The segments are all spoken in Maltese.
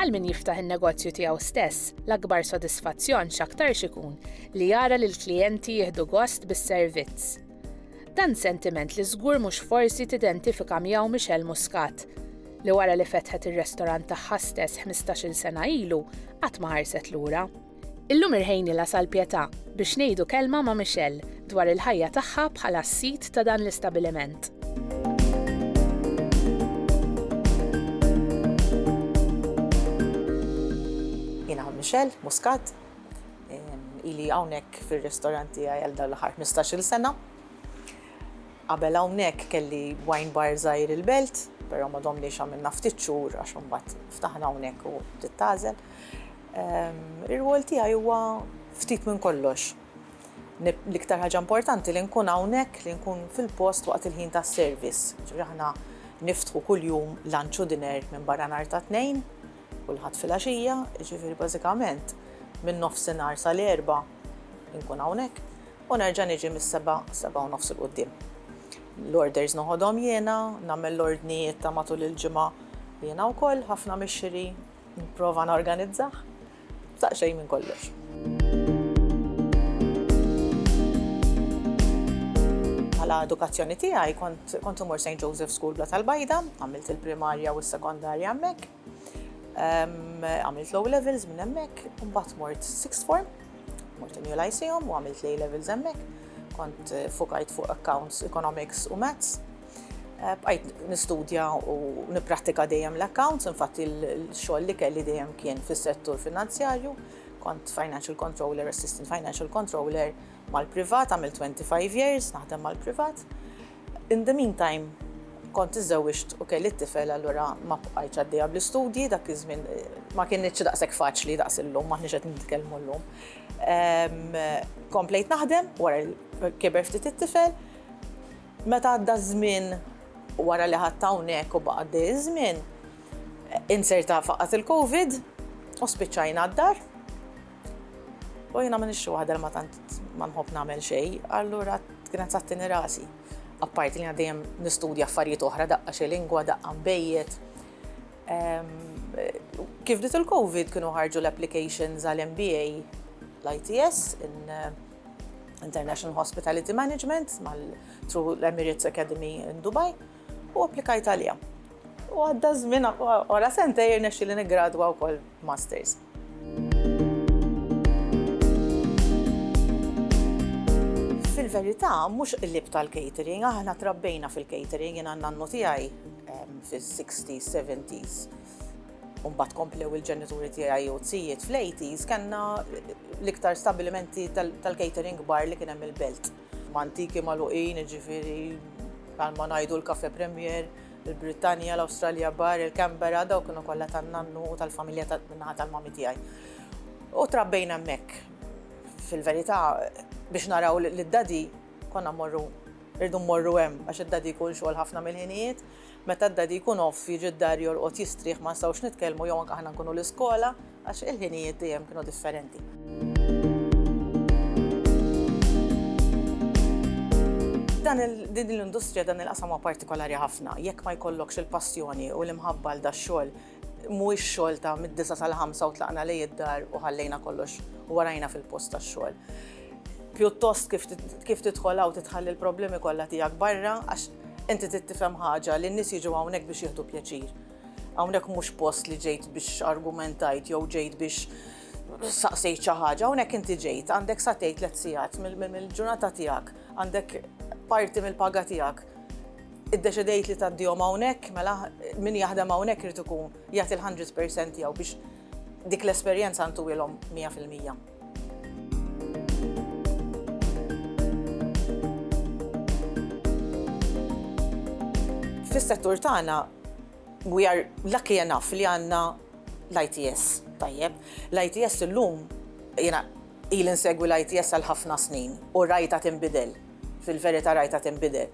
Għal min jiftaħ in-negozju tiegħu stess, l-akbar sodisfazzjon x'aktarx ikun li jara li l-klijenti jieħdu gost bis-servizz. Dan sentiment li żgur mhux forsi tidentifika miegħu Michelle Muscat, li wara li fetħet ir-restorant tagħha stess 15-il sena ilu qatt ma ħarset lura. Illum irħejni l Għasal Pietà biex ngħidu kelma ma' Michelle dwar il-ħajja tagħha bħala s-sid ta' dan l-istabiliment. Jiena Michelle Muscat, ili hawnhekk fir-ristorant tiegħi għal dan l-aħħar 15-il sena. Qabel hawnhekk kelli wine bar żgħir il-Belt, però ma domniex għamilna ftit xhur għax imbagħad ftaħna hawnhekk u bdiet tagħżel. Ir-rwol tiegħi huwa ftit minn kollox. L-iktar ħaġa importanti li nkun hawnhekk, li nkun fil-post waqt il-ħin tas-service. Ġifieri aħna niftħu kuljum lunch u dinner minn barra nhar ta' tnejn, kulħadd filgħaxija, ġifieri bażikament minn nofsinhar sal-erbgħa nkun hawnhekk u nerġa' niġi mis-sebgħa, sebgħa u nofs 'il quddiem. L-orders noħodhom jiena, nagħmel l-ordnijiet ta' matul il-ġimgħa jiena wkoll, ħafna mix-xiri Nipprova norganizzah. Saq xejn minn kollox. Għala edukazzjoni tiegħi kont imur St. Joseph School Bla tal-Bajda, għamilt il-primarja u s-sekondarja hemmhekk. Għamilt low levels minn hemmhekk, mbagħad mort sixth form, mort in Lyceum u għamilt lay levels hemmhekk. Kont eh, fukajt fuq accounts, economics u maths Eh, bqajt nistudja u niprattika dejjem l-accounts, infatti l-xogħol li kelli dejjem kien fis-settur finanzjarju, kont financial controller, assistant financial controller mal-privat, għamil 25 years naħdem mal-privat. In the meantime, kont iżewġt u kelli t-tifel allura ma bqajt għaddejja bl-istudji, dak iż-żmien ma kienx daqshekk faċli daqs illum, ma qed nitkellmu llum. Ehm, komplejt naħdem wara kiber ftit it-tifel, Meta għadda ż-żmien wara li qgħadt hawnhekk u baqa' għaddej iż-żmien, inzerta faqgħat il-Covid u spiċċajna d-dar. U jiena m'iniex xi waħda li ma tant ma nħobb nagħmel xejn, allura kienet sattini rasi. Apparti li jiena dejjem nistudja affarijiet oħra, daqqa xi lingwa, daqqa nbejjed. Ehm, kif bdiet il-Covid kienu ħarġu l-applications għal MBA l-ITS in International Hospitality Management mal-True Emirates Academy in Dubai u applikajt għalija. U għadda żmien wara sentej irnexxi li niggradwa wkoll masters. Fil-verità, mhux qlib tal-catering, aħna trabbejna fil-catering, jien għandna n-nu tiegħi fis-60s, 70s. stess. U mbagħad komplew il-ġenituri tiegħi u t-sijiet fl-80s kellna l-iktar stabbilimenti tal-catering kbar li kien hemm il-belt. Mantiki magħluqin, jiġifieri bħal ma ngħidu l-Cafe Premier, il-Brittanja, l-Awstralja Bar, il-Canberra, dawk kienu kollha tan-nannu u tal-familja min-naħa tal-mami tiegħi. U trabbejna hemmhekk. Fil-verità, biex naraw lid-daddy konna mmorru rridu mmorru hemm għax id-daddy jkun xogħol ħafna mill-ħinijiet. Meta d-Daddy jkun off jiġi d-dar jorqod jistrieħ ma nistgħux nitkellmu jew anke aħna nkunu l-iskola għax il-ħinijiet dejjem kienu differenti. Dan din l-industrija dan il-qasam huwa partikolari ħafna. Jekk ma jkollokx il-passjoni u l-imħabba għal dax-xogħol Mhuwiex xogħol ta' mid-disa' sal-ħamsa u tlaqna lejn id-dar u ħallejna kollox u warajna fil-post tax-xogħol. Pjuttost kif tidħol hawn titħalli l-problemi kollha tiegħek barra għax inti trid tifhem ħaġa li n-nies jiġu hawnhekk biex jieħdu pjaċir. Hawnhekk mhux post li ġejt biex argumentajt jew ġejt biex saqsejt xi ħaġa, hawnhekk inti ġejt, għandek sa tgħid tliet sigħat mill-ġurnata tiegħek, għandek parti mill-paga tiegħek. Iddeċidejt li tgħaddihom hawnhekk, mela min jaħdem hawnhekk irid ikun jagħti l-hundred per cent tiegħu biex dik l-esperjenza ntuwielhom mija fil-mija. Fis-settur tagħna we are lucky enough li għandna l-ITS tajjeb. L-ITS illum jiena Ili nsegwi l-ITS għal ħafna snin u rajtha tinbidel, fil-verità rajtha tinbidel.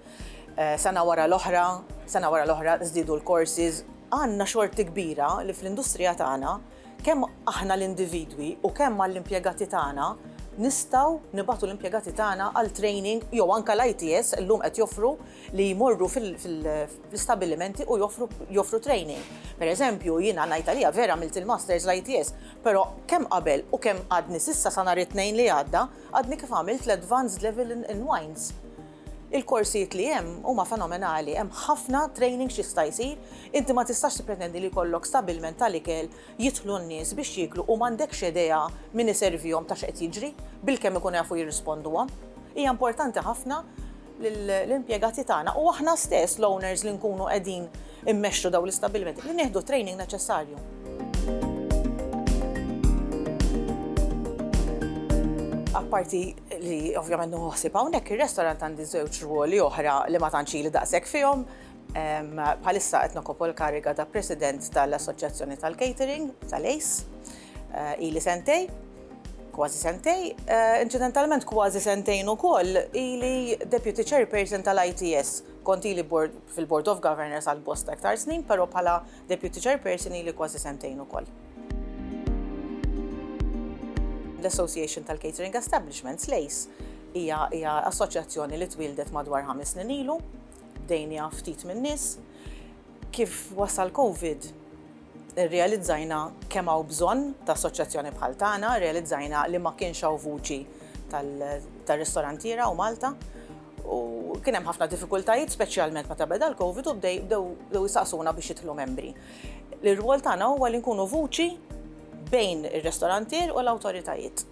Sena wara l-oħra, sena wara l-oħra żdiedu l-courses. Għandna xorti kbira li fl-industrija tagħna, kemm aħna l-individwi u kemm mal-impjegati tagħna, nistgħu nibagħtu l-impjegati tagħna għal training jew anke l-ITS illum qed joffru li jmorru fl-istabbilimenti u joffru training. Pereżempju, jiena ngħid għalija vera għamilt il-masters l-ITS Però kemm qabel u kemm għadni s'issa sa nhar it-Tnejn li għadda, għadni kif għamilt l-Advanced Level in in Wines. Il-korsijiet li hemm huma fenomenali, hemm ħafna training x'jista' jsir, inti ma tistax tippretendi li jkollok stabilment tal-ikel jidħlu n-nies biex jieklu u m'għandekx idea min iservihom ta' x'qed jiġri, bilkemm ikunu jafu jirrisponduhom. Hija importanti ħafna lill-impjegati tagħna u aħna stess, l-owners li nkunu qegħdin immexxu dawn l-istabbilimenti, li nieħdu t-training neċessarju. Apparti li ovvjament nieħu ħsieb hawnhekk ir-restorant għandi żewġ rwoli oħra li ma tantx ili daqshekk fihom. Bħalissa qed nokopu l-kariga ta' President tal-Assoċjazzjoni tal-Catering tal-ACE ili sentej. Kważi sentej, inċidentalment kważi sentejn ukoll ili Deputy Chairperson tal-ITS. Kont ili fil-Board of Governors għal bosta iktar snin, però bħala Deputy Chairperson ili kważi sentejn ukoll. L-Association tal-Catering Establishments, l-ACE, hija assoċjazzjoni li twieldet madwar ħames snin ilu, bdejniha ftit min-nies. Kif wasal Covid, Irrealizzajna kemm hawn bżonn ta' assoċjazzjoni bħal tagħna, irrealizzajna li ma kienx hawn vuċi tar-ristorantiera u Malta u kien hemm ħafna diffikultajiet speċjalment meta beda l-Covid u bdew jistaqsuna biex jidħlu membri. L-irwol tagħna huwa li nkunu vuċi bejn ir-ristorantier u l-awtoritajiet.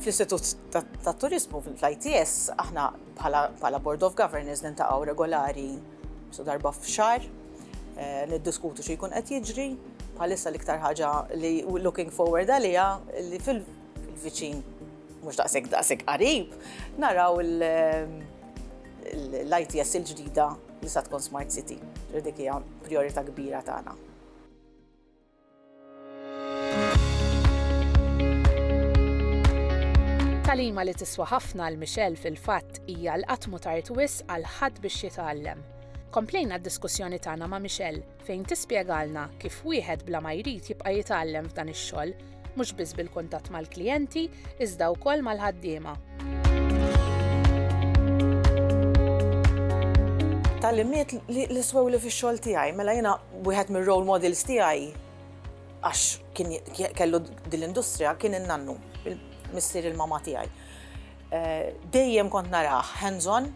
Fl-Istitut tat-Turiżmu, fl-ITS, aħna bħala Board of Governors niltaqgħu regolari, Sa darba f'xar, niddiskutu xi jkun qed jiġri, bħalissa l-iktar ħaġa li looking forward għalija li fil-viċin mhux daqshekk daqshekk qarib, naraw l-ITS il-ġdida li sa tkun Smart City. Dik hija prijorità kbira tagħna. Talima li tiswa ħafna l Michelle fil-fatt hija l-qatt mutart wis għal ħadd biex jitgħallem. Komplejna d-diskussjoni tagħna ma' Michelle fejn tispjegalna kif wieħed bla ma jrid jibqa' jitgħallem f'dan ix-xogħol, mhux biss bil-kuntatt mal-klijenti, iżda wkoll mal-ħaddiema. Talimiet li swew li fix-xogħol tiegħi, mela jiena Wieħed mir-role models tiegħi għax kien kellu din l-industrija kien in-nannu, missier il-mama tiegħi. Eh, dejjem kont narah hands-on,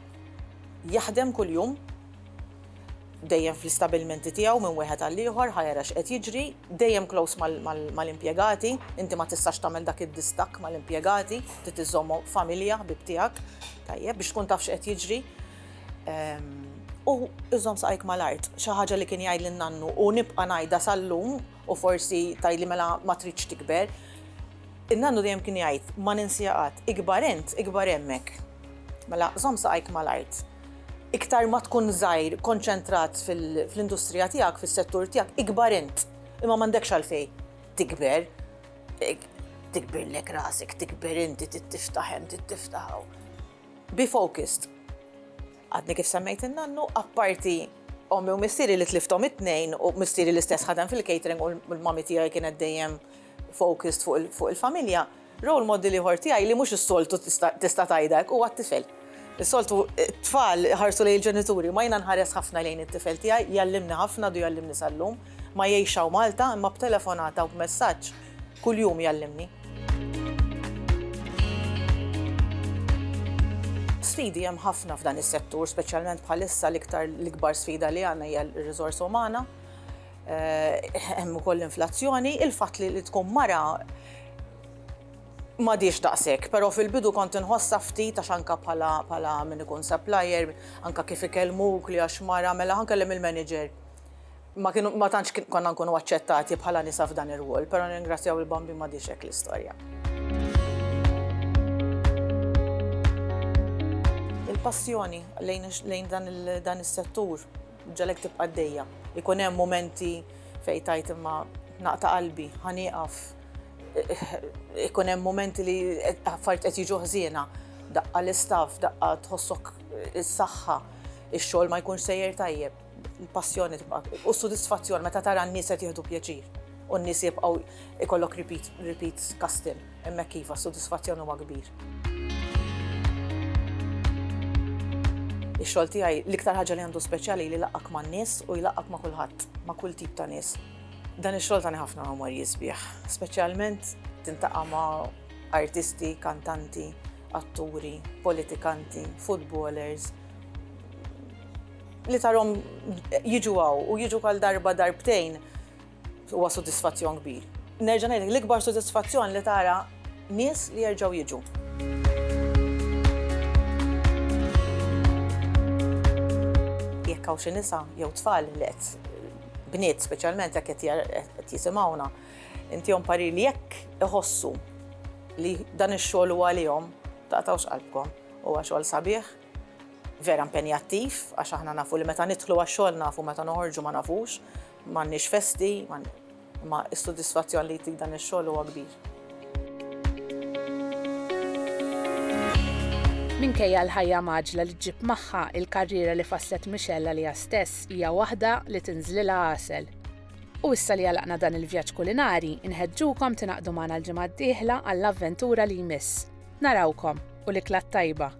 jaħdem kuljum, dejjem fl-istabilmenti tiegħu minn wieħed għal ieħor ħajra x'qed jiġri, dejjem close mal-impjegati, inti ma tistax tagħmel dak id-distak mal-impjegati, trid iżommhom familja ħbib tiegħek, tajjeb biex tkun taf x'qed jiġri. U iżom saqajk mal-art, xi ħaġa li kien jgħid lin nannu u nibqa' ngħidha sal-lum u forsi tgħidli mela ma tridx tikber. In-nannu dejjem kien jgħid ma ninsiha qatt, ikbar int, ikbar hemmhekk. Mela żomm saqajk mal-art. Iktar ma tkun żgħir konċentrat fl-industrija tiegħek, fis-settur tiegħek, ikbar int. Imma m'għandekx għalfejn tikber. Tikbirlek rasek, tikber inti, trid tiftaħ hemm, trid tiftaħ hawn. Be focused. Għadni kif semmejt in-nannu, apparti ommi u missieri li tlifthom it-tnejn u missieri l-istess ħadem fil-catering u l-mommy tiegħi kienet dejjem focused fuq il-familja, role model ieħor tiegħi li mhux is-soltu tista' tgħidha hekk huwa t-tifel. Is-soltu t-tfal iħarsu lejn il-ġenituri, imma jiena nħares ħafna lejn it-tifel tiegħi, jgħallimni ħafna, għadu jgħallimni sal-lum. Ma jgħixx hawn Malta, imma b'telefonata u b'messaġġ, Kuljum jgħallimni. Sfidi hemm ħafna f'dan is-settur, speċjalment bħalissa l-iktar l-ikbar sfida li għandna hija r-riżorsa umana. Eh, hemm ukoll inflazzjoni, il-fatt li tkun mara ma diex daqsek, pero fil-bidu kont inħossa ftit għax anka pala, pala minn ikun supplier, anka kif ikellmuk li għax mara, mela għan kellem il-manager. ma kienu ma tantx konna nkunu aċċettati bħala nisa f'dan ir-rwol, però nirringrazzjaw il-Bambin m'għadhiex hekk l-istorja. Il-passjoni lejn dan is-settur ġġagħlek tibqa' għaddejja. Ikun hemm mumenti fejn tgħid imma naqta' qalbi, ħa nieqaf. Ikun hemm mumenti li affarijiet qed jiġu ħżiena, daqqa l-istaff, daqqa tħossok is-saħħa, ix-xogħol ma jkunx sejjer tajjeb. Il-passjoni tibqa' u s-sodisfazzjon meta tara n-nies qed jieħdu pjaċir u n-nies jibqgħu ikollok repeat, repeat custom. Hemmhekk iva, s-sodisfazzjon huwa kbir. Ix-xogħol tiegħi l-iktar ħaġa li għandu speċjali li jlaqqak man-nies u jlaqqak ma' kulħadd, ma' kull tip ta' nies. Dan ix-xogħol tani ħafna memorji sbieħ, speċjalment tintaqa' ma' artisti, kantanti, atturi, politikanti, footballers, Li tarhom jiġu hawn u jiġu għal darba darbtejn huwa sodisfazzjon kbir. Nerġa' ngħidlek l-ikbar sodisfazzjon li tara nies li jerġgħu jiġu. Jekk hawn xi nisa jew tfal li qed bniet speċjalment jekk qed jisimgħuna, intihom parir li jekk iħossu li dan ix-xogħol huwa għalihom, taqtgħux qalbkom. Huwa xogħol sabiħ. vera impenjattiv għax aħna nafu li meta nidħlu għax-xogħol nafu meta noħorġu ma nafux, m'għandniex festi, imma s-sodisfazzjon li jtik dan ix-xogħol huwa kbir. Minkejja l-ħajja mgħaġġla li ġġib magħha, il-karriera li fasslet Michelle għaliha stess hija waħda li tinżlilha għasel. U issa li għalaqna dan il-vjaġġ kulinari, inħeġġukom tingħaqdu magħna l-ġimgħa d-dieħla għall-avventura li jmiss. Narawkom u l-ikla t-tajba!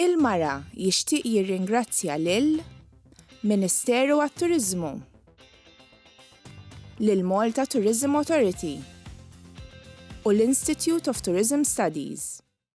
Il-Mara jixtieq jirringrazzja lil Ministeru għat-Turiżmu, lill-Malta Tourism Authority u l-Institute of Tourism Studies.